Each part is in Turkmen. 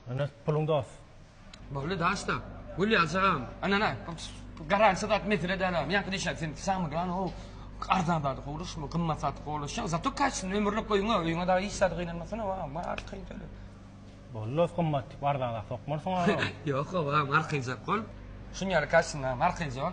Ana puluň dos. Boldy daşda. Gül ýaljagam. Anana garantiýa zat mesele däl agam. Ýaňky diýşäň sen samyglan ho arzan zady howluşma gymmat zat howluşýaň zato kaçsin ömürlik öýüňe öýüňe dagy hiç zat gynanmasana ho agam bar kynçylyk. Boldy dos gymmat arzan zat sokmarsyň agam. Ýok ho agam arkaýjak bol. Şuny ýaly kaçsin agam arkaýjak.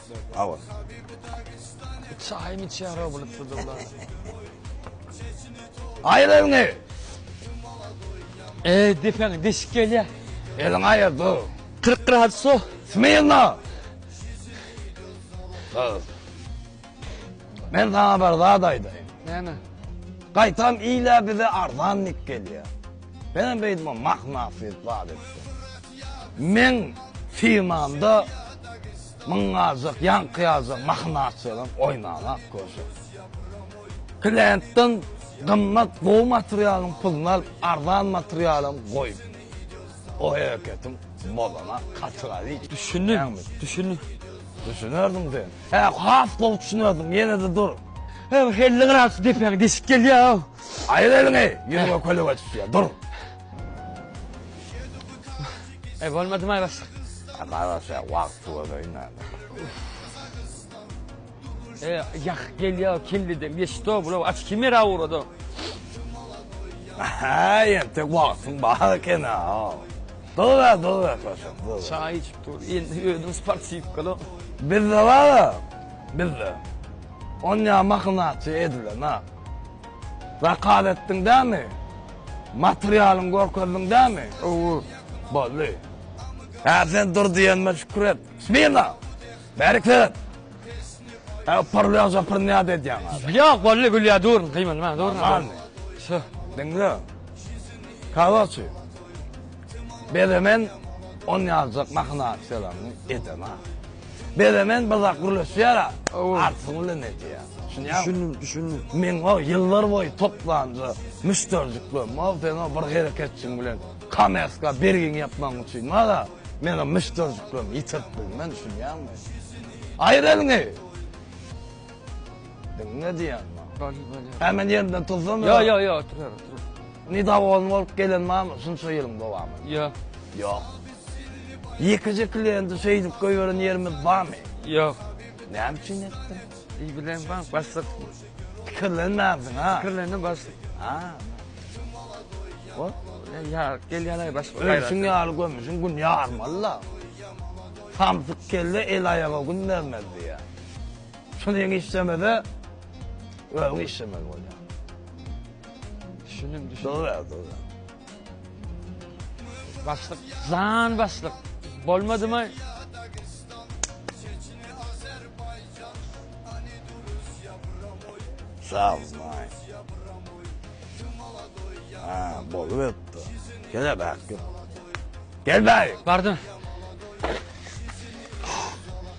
Awa. Çaýmy içýär o bulup dudullar. Aýyr elini. E, depeň deşik gelýär. Elini aýyr dur. 40 gradus so. Smirno. Dur. Men sana bir zat aýdaýyn. Näme? Gaýtam ile bize arzan nik gelýär. Benim beýdme mahna fil zat etdi. Meň firmamda müň galjak, ýaňky ýazjak mahinasiýadan oýnalap görjek. Klientden gymmat gowy materialyň puluny alyp, arzan materialam goýup, o hereketiň bolana katygaly. Düşündim, düşündim. Düşünerdiň sen. Hä, has gowy düşünerdiň, ýene-de dur. Hä, bu helle gyrap şu depäňe deşik gelýär-ow. Aýyr eliňi, ýüzüňe köleg ötüpdir, dur. Eý bolmady maý başlyk. Maý başlyk wagt tugadyň näme. Eý ýah gelýä kellede geçdo bula aç kimera urado. Haý ýa tek wagtyň bar eken ha. Dola dola taşam. Çaý içip dur. Indi ödüm sportiv kolo. Bizde bar. Bizde. Onýa mahynaçy edilen ha. Zakaz etdiň dämi? Materialyňy görkezdiň dämi? Owo, boldy. Hä, sen dur diýenime şükür et. Smirno! Bärik seret! Hä, pyrlaýan jopyryny nädip edýäň aza? Ýok, boldy, gülýär, durun, gyýmanyp, durun. Amanmy? Diňle. Kawaçy. Bezemen on ýaljak mahyna selamyny edema. Bezemen bir zat gürleşýär-ä, artysyny bilen edýär. Düşünýäňmi? Düşündim, düşündim. Meň o ýyllar boýy toplanja müşderijiklerim bar, seniň o bir hereketçiň bilen kommersiýa bergiňi ýapmagyň üçin bar-a, men o müşderijiklerimi ýitirip bilmen, düşünýäňmi? Aýyr eliňi! Diňle diýýän maňa. Bolýa, bolýa. Hä, men ýerimden tursam ýa? Ýok, ýok, ýok, otur, otur. Ni dawolny bolup gelen barmy şunça ýylyň dowamynda? Ýok. Ýok. Ýekeje kliýenti şeýdip goýberen ýerimiz barmy? Ýok. Näme üçin etdiň? Eý, bilen baň, başlyk. Pikirlenmänsiň, ha? Pikirlendim, başlyk. Ha. Bol. Ýa, gelýän aý başlyk. Ölüşiň ýaly gömüşiň gün ýarmaly-la. Samsyk kelle el-aýaga gün bermez diýýär. Şuny iň işlemese, öň işlemeli bolýar. Düşündim, düşündim. Dogry, dogry. Başlyk, jan başlyk. Bolmadymy? Sag ol, maý. Ha, boluberipdir. Gel bak, gel. Gel bak. Bardym.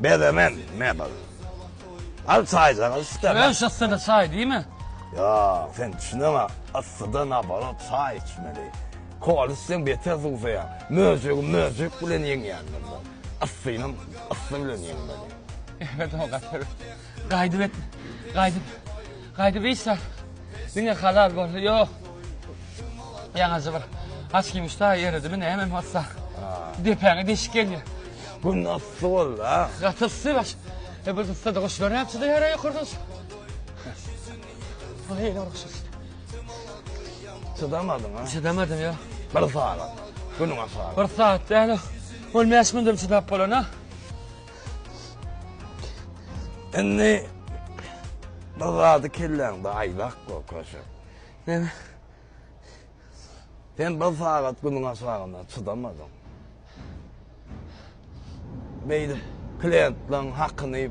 Bezemen mebel. Al çaýjaňy içde. Öz yssyda çaý diýme. Ýok, sen düşüneňok. Yssyda nabarat çaý içmeli. Kola içseň beter suwsaýaň. Möjegi möjek bilen ýeňýändir bu. Yssynam yssy bilen ýeňmeli. Emet oňa gaty bir gaýdyp etdi. Gaýdyp. Gaýdyp iýsem, diňe halal boldy, ýok. Ýaňajy bir açkim uçda eredimi nämemi bolsa, depäňe deşik gelýär. Gün yssy boldy-a. Gaty yssy baş. E bu yssyda guşlar näme üçin öýýär-ä ýokardan şu? Aý, ýene uruşýas. Çydamadyň-a? Çydamadym, ýok. Bir sagat, günüňe sagat. Bir sagat däl-ow. Ol bäş gündem çydap bolan-a. Indi bir zady kelläňde aýlak go köşe. Sen Sen bir sagat günüň aşagyna çydamadyň. Beýle klientlaryň hakyny